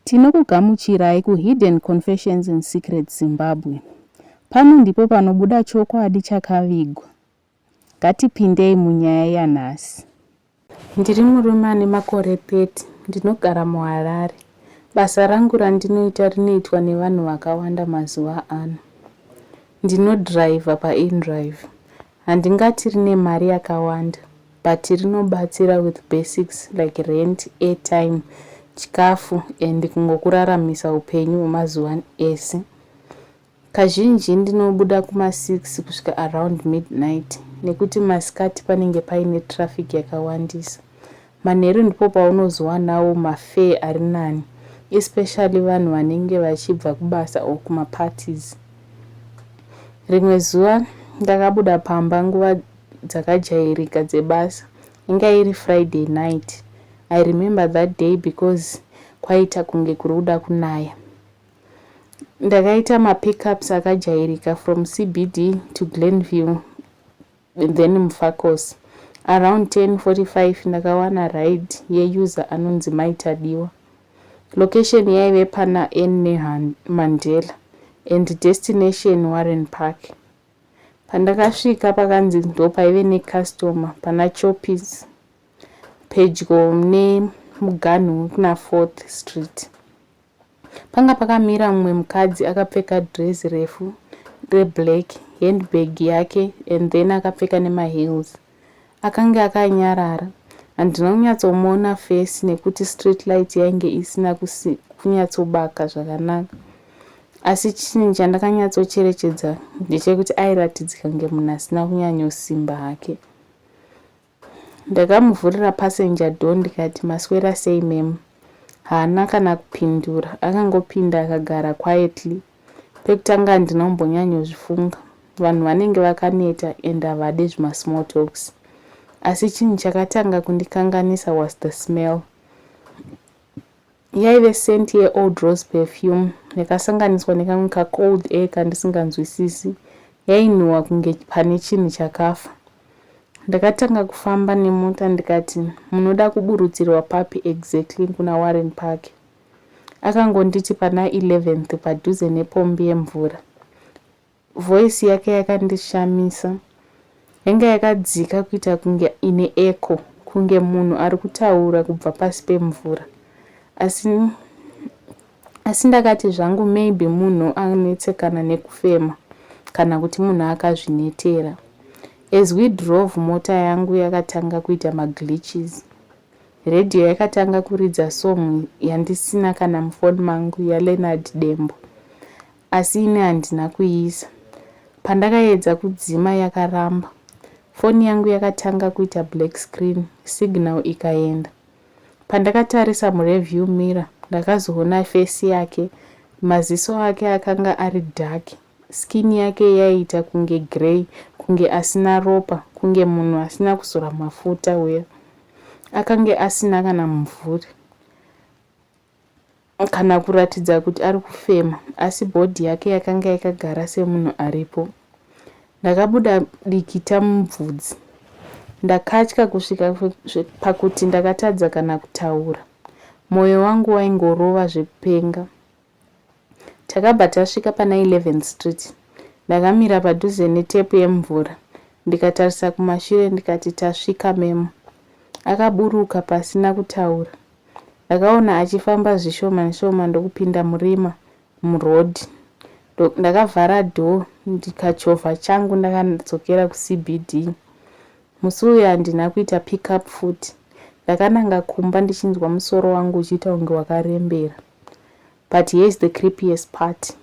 Tinokugamuchirai ku Hidden Confessions and Secrets Zimbabwe. Pano ndipo panobuda chokwadi chakavigwa. Ngatipindei munyaya yanhasi. Ndiri murume ane makore 30, ndinogara muHarare. Basa rangu randinoita rinoitwa nevanhu vakawanda mazuva ano. Ndinodhiraivha paInDrive. Handingati rine mari yakawanda but rinobatsira with basics like rent, airtime, chikafu and kungokuraramisa hupenyu hwemazuva ese. Kazhinji ndinobuda kuma six kusvika around midnight nekuti masikati panenge paine traffic yakawandisa. Manheru ndipo paunozowanawo ma fare ari nani especially vanhu vanenge vachibva kubasa or kuma parties. Rimwe zuva ndakabuda pamba nguva dzakajairika dzebasa inga iri Friday night. I remember that day because kwaiita kunge kuri kuda kunaya. Ndakaita ma pickups akajairika from CBD to Glenview then Mfakosi. Around 10:45 ndakawana ride yeuser anonzi Mai Tadiwa. Location yaive pana Anne Mandela and destination Warren Park. Pandakasvika pakanzi ndopaive necustomer pana Choppies pedyo nemuganhu wekuna Fourth Street. Panga pakamira mumwe mukadzi akapfeka dress refu reblack, handbag yake and then akapfeka nemaheels. Akange akanyarara. Handina kunyatsomuona face nekuti street light yainge isina kunyatsobaka zvakanaka. Asi chinhu chandakanyatsocherechedza ndechekuti airatidzika kunge munhu asina kunyanyosimba hake. Ndakamuvhurira passenger door ndikati maswera sei ma'am? Haana kana kupindura akangopinda akagara quietly. Pekutanga handina kumbonyanyozvifunga vanhu vanenge vakaneta and havade zvima small talks. Asi chinhu chakatanga kundikanganisa was the smell. Yaive scent ye Old Rose perfume yakasanganiswa nekamwe ka cold air kandisinganzwisisi. Yainhuwa kunge pane chinhu chakafa. Ndakatanga kufamba nemota ndikati, munoda kuburutsirwa papi exactly kuna Warren Park? Akangonditi pana 11th padhuze nepombi yemvura. Voice yake yakandishamisa. Yanga yakadzika kuita kunge ine echo kunge munhu ari kutaura kubva pasi pemvura. Asi asi ndakati zvangu maybe munhu anetsekana nekufema kana kuti munhu akazvinetera. As we drove mota yangu yakatanga kuita maglitches. Radio yakatanga kuridza song yandisina kana mufoni mangu yaLeonard Dembo. asi ini handina kuiisa. Pandakaedza kudzima yakaramba. Foni yangu yakatanga kuita black screen, signal ikaenda. Pandakatarisa mureview mirror ndakazoona face yake, maziso ake akanga ari dark, skin yake yaiita kunge grey, kunge asina ropa, kunge munhu asina kuzora mafuta uya. Akange asina kana mumvuri. kana kuratidza kuti ari kufema asi bhodhi yake yakanga yakagara semunhu aripo. Ndakabuda dikita mubvudzi. Ndakatya kusvika pakuti ndakatadza kana kutaura. Mwoyo wangu waingorova zvekupenga. Takabva tasvika pana 11 Street. Ndakamira padhuze netepu yemvura ndikatarisa kumashure ndikati tasvika memo. Akaburuka pasina kutaura. ndakaona achifamba zvishoma shoma ndokupinda murima muroad ndakavhara door ndikachovha changu ndakadzokera kucbd musi uyu handina kuita pick up futi ndakananga kumba ndichinzwa musoro wangu uchiita kunge wakarembera But here is the creepiest part.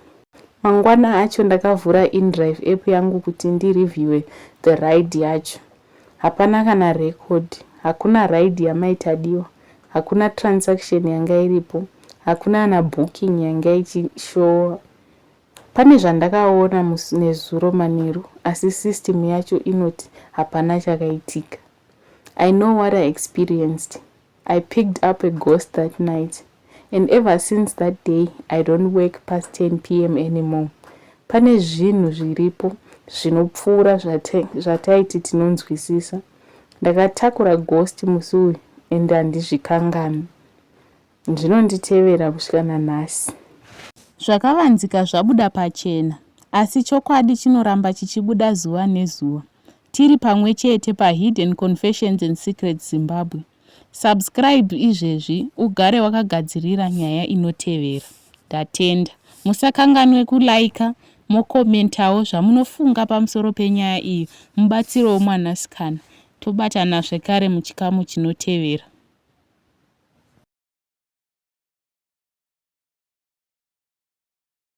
Mangwana acho ndakavhura indrive app yangu kuti ndi reviewe the ride yacho. Hapana kana record, hakuna ride yamai Tadiwa, hakuna transaction yanga iripo, hakuna kana booking yanga ichishowa. Pane zvandakaona nezuro manheru asi system yacho inoti hapana chakaitika. I know what I experienced. I picked up a ghost that night and ever since that day I don't work past 10 pm anymore. Pane zvinhu zviripo zvinopfuura zvataiti tinonzwisisa. Ndakatakura ghost musi uyu and handizvikanganwi. Zvinonditevera kusvika nanhasi. Zvakavanzika zvabuda pachena asi chokwadi chinoramba chichibuda zuva nezuva. Tiri pamwe chete pa Hidden Confessions and Secrets Zimbabwe. Subscribe izvezvi ugare wakagadzirira nyaya inotevera. Ndatenda. Musakanganwe ku liker mo commentawo zvamunofunga pamusoro penyaya iyi mubatsirewo mwanasikana. Tobatana zvekare muchikamu chinotevera.